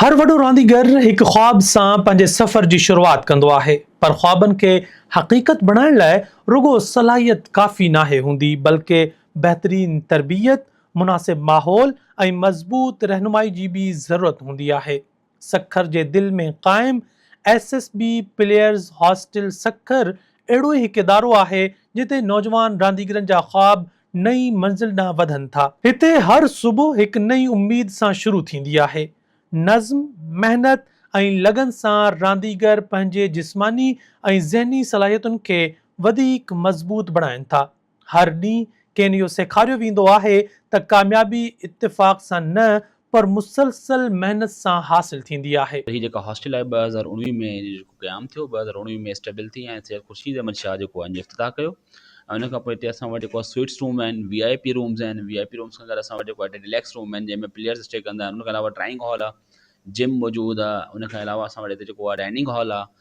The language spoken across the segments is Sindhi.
هر وڏو رانديگر هڪ خواب سان پنهنجي سفر جي شروعات ڪندو آهي، پر خوابن کي حقيقت بڻائڻ لاء رڳو صلاحيت ڪافي ناهي هوندي، بلڪ بهترين تربيت، مناسب ماحول ۽ مضبوط رهنمائي جي به ضرورت هوندي آهي. سکر جي دل ۾ قائم S S B players hostel Sukkur اهڙو ئي هڪ ادارو آهي، جتي نوجوان رانديگرن جا خواب نئين منزل ڏانهن وڌن ٿا. هتي هر صبح هڪ نئين اميد سان شروع ٿيندي آهي. نظم، محنت ۽ لگن سان رانديگر پنهنجي جسماني ۽ ذهني صلاحيتن کي وڌيڪ مضبوط بڻائين ٿا. هر ڏينهن کين اهو سيکاريو ويندو آهي ته ڪاميابي اتفاق سان نه پر مسلسل محنت سان حاصل ٿيندي آهي. هي جيڪا هاسٽل آهي ٻه هزار اڻويهه ۾ ان جو جيڪو قيام ٿيو ٻه هزار اڻويهه ۾ اسٽيبل ٿي ۽ سيد خورشيد احمد شاهه جيڪو آهي ان جو افتتاح ڪيو ۽ ان کان پوء هتي اسان وٽ جيڪو سوئٽس روم آهن وي آء پي رومز آهن وي آء پي رومز کان گڏ اسان وٽ جيڪو آهي ريليڪس روم آهن جنهن ۾ پليئرز اسٽي ڪندا آهن ان کان علاوه ڊرائنگ هال آهي جم موجود آهي ان کان علاوه اسان وٽ هتي جيڪو آهي ڊائننگ هال آهي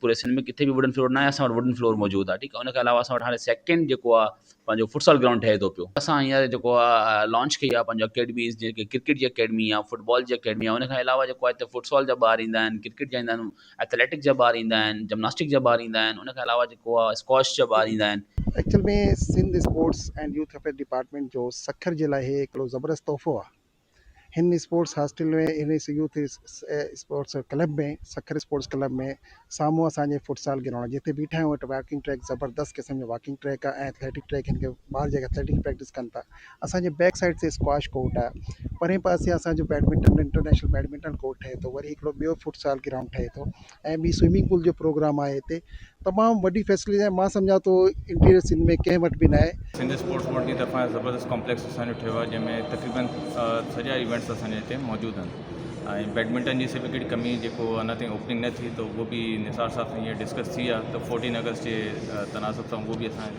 پوري سنڌ ۾ ڪٿي به ووڊن فلور ناهي اسان وٽ ووڊن فلور موجود آهي ٺيڪ آهي ان کان علاوه اسان وٽ هاڻي سيڪنڊ جيڪو آهي پنهنجو فٽسال گرائونڊ ٺهي ٿو پيو اسان هينئر جيڪو آهي لانچ ڪئي آهي پنهنجو اڪيڊميز جيڪي ڪرڪيٽ جي اڪيڊمي آهي فٽبال جي اڪيڊمي آهي ان کان علاوه جيڪو آهي فٽسال جا ٻار ايندا آهن ڪرڪيٽ جا ايندا آهن ايٿليٽڪ جا ٻار ايندا آهن جمناسٽڪ جا ٻار ايندا آهن ان کان علاوه جيڪو آهي اسڪواش جا ٻار ايندا آهن actual ۾ Sindh sports and youth affairs department جو سکر جي لاء هي هڪڙو زبردست تحفو آهي هن اسپورٽس هاسٽل ۾ هن سي youth sports club ۾ Sukkur sports club ۾ سامهون اسان جي فٽسال گرائونڊ جتي بيٺا آهيون اٽي واڪنگ ٽريڪ زبردست قسم جو واڪنگ ٽريڪ آهي ۽ اٿليٽڪ ٽريڪ هن کي ٻار جيڪي اٿليٽڪ پريڪٽس ڪن ٿا اسان جي بيڪ سائيڊ تي اسڪواش ڪورٽ آهي پرين پاسي اسان جو بيڊمنٽن انٽرنيشنل بيڊمنٽن ڪورٽ ٺهي ٿو وري هڪڙو ٻيو فٽسال گرائونڊ ٺهي ٿو ۽ ٻي سوئمنگ پول جو پروگرام آهي هتي تمام وڏي فيسلٽيز آهن مان سمجهان ٿو انٽيريئر سنڌ ۾ ڪنهن وٽ به نه آهي. سنڌ اسپورٽس بورڊ جي طرفان زبردست ڪامپليڪس اسان جو ٺهيو آهي جنهن ۾ تقريبن سڄا ايونٽس اسان جا هتي موجود آهن ۽ بيڊمنٽن جي سي به ڪهڙي ڪمي جيڪو اڃا تائين اوپننگ نه ٿي ته اهو به نثار صاحب سان هيئنر ڊسڪس ٿي آهي ته فورٽين اگسٽ جي تناسب سان اهو به اسان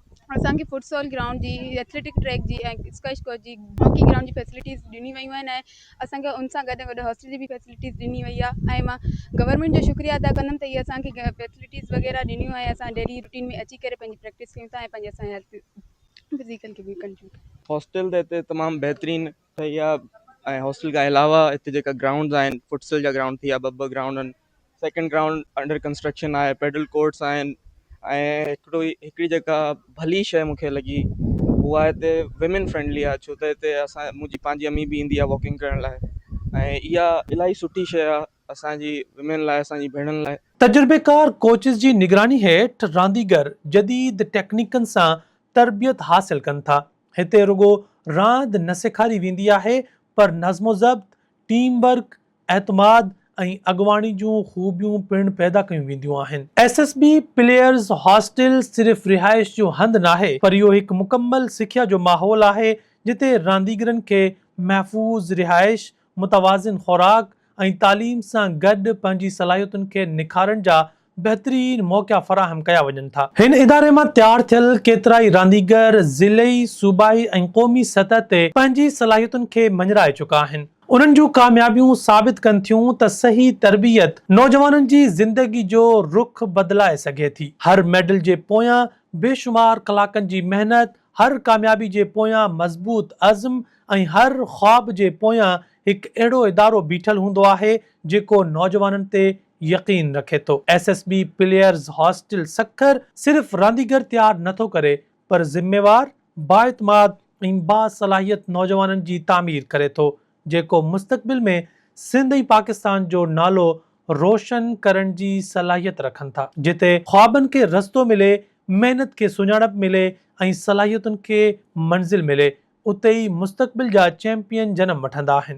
اسان کي فٽسال گرائونڊ جي ايٿليٽڪ ٽريڪ جي ۽ اسڪوائش ڪورٽ جي هاڪي گرائونڊ جي فيسلٽيز ڏني ويون آهن ۽ اسان کي ان سان گڏ گڏ هاسٽل جي بي فيسلٽيز ڏني وئي آهي ۽ مان گورنمينٽ جو شڪريا ادا ڪندم ته هي اسان کي فيسلٽيز وغيره ڏنيون ۽ اسان ڊيلي روٽين ۾ اچي ڪري پنهنجي پريڪٽس ڪيون ٿا ۽ پنهنجي اسان هيلٿ فزيڪل کي به ڪنٽرول ڪريون ٿا. هاسٽل ته هتي تمام بهترين ته اها ۽ هاسٽل کان علاوه هتي جيڪا گرائونڊز آهن فٽسل جا گرائونڊ ٿي ويا ٻه ٻه گرائونڊ آهن سيڪنڊ گرائونڊ انڊر ڪنسٽرڪشن آهي پيڊل ڪورٽس آهن ۽ هڪڙو ئي هڪڙي جيڪا ڀلي شيء مونکي لڳي اها هتي ويمن فرينڊلي آهي ڇو ته هتي اسان منهنجي پنهنجي امي به ايندي آهي واڪنگ ڪرڻ لاء ۽ اها الاهي سٺي شيء آهي اسانجي ويمن لاء اسانجي ڀيڻن لاء تجربيڪار ڪوچز جي نگراني هيٺ رانديگر جديد ٽيڪنيڪن سان تربيت حاصل ڪن ٿا هتي رڳو راند نه سيکاري ويندي آهي پر نظم و ضبط، ٽيم ورڪ، اعتماد ۽ اڳواڻي جون خوبيون پڻ پيدا ڪيون وينديون آهن. S S B players hostel صرف رهائش جو هنڌ ناهي پر اهو هڪ مڪمل سکيا جو ماحول آهي جتي رانديگرن کي محفوظ رهائش، متوازن خوراڪ ۽ تعليم سان گڏ پنهنجي صلاحيتن کي نکارڻ جا بهترين موقعا فراهم ڪيا وڃن ٿا. هن اداري مان تيار ٿيل ڪيترائي رانديگر ضلعي، صوبائي ۽ قومي سطح تي پنهنجي صلاحيتن کي مڃرائي چڪا آهن. انهن جون ڪاميابيون ثابت ڪن ٿيون ته صحيح تربيت نوجوانن جي زندگي جو رخ بدلائي سگهي ٿي. هر ميڊل جي پويان بيشمار ڪلاڪن جي محنت، هر ڪاميابي جي پويان مضبوط عزم، ۽ هر خواب جي پويان هڪ اهڙو ادارو بيٺل هوندو آهي جيڪو نوجوانن تي يقين رکي ٿو. S S B players hostel Sukkur صرف رانديگر تيار نه ٿو ڪري پر ذميوار، بااعتماد ۽ باصلاحيت نوجوانن جي تعمير ڪري ٿو جيڪو مستقبل ۾ سنڌ ۽ پاڪستان جو نالو روشن ڪرڻ جي صلاحيت رکن ٿا. جتي خوابن کي رستو ملي، محنت کي سڃاڻپ ملي ۽ صلاحيتن کي منزل ملي، اتي ئي مستقبل جا چيمپيئن جنم وٺندا آهن.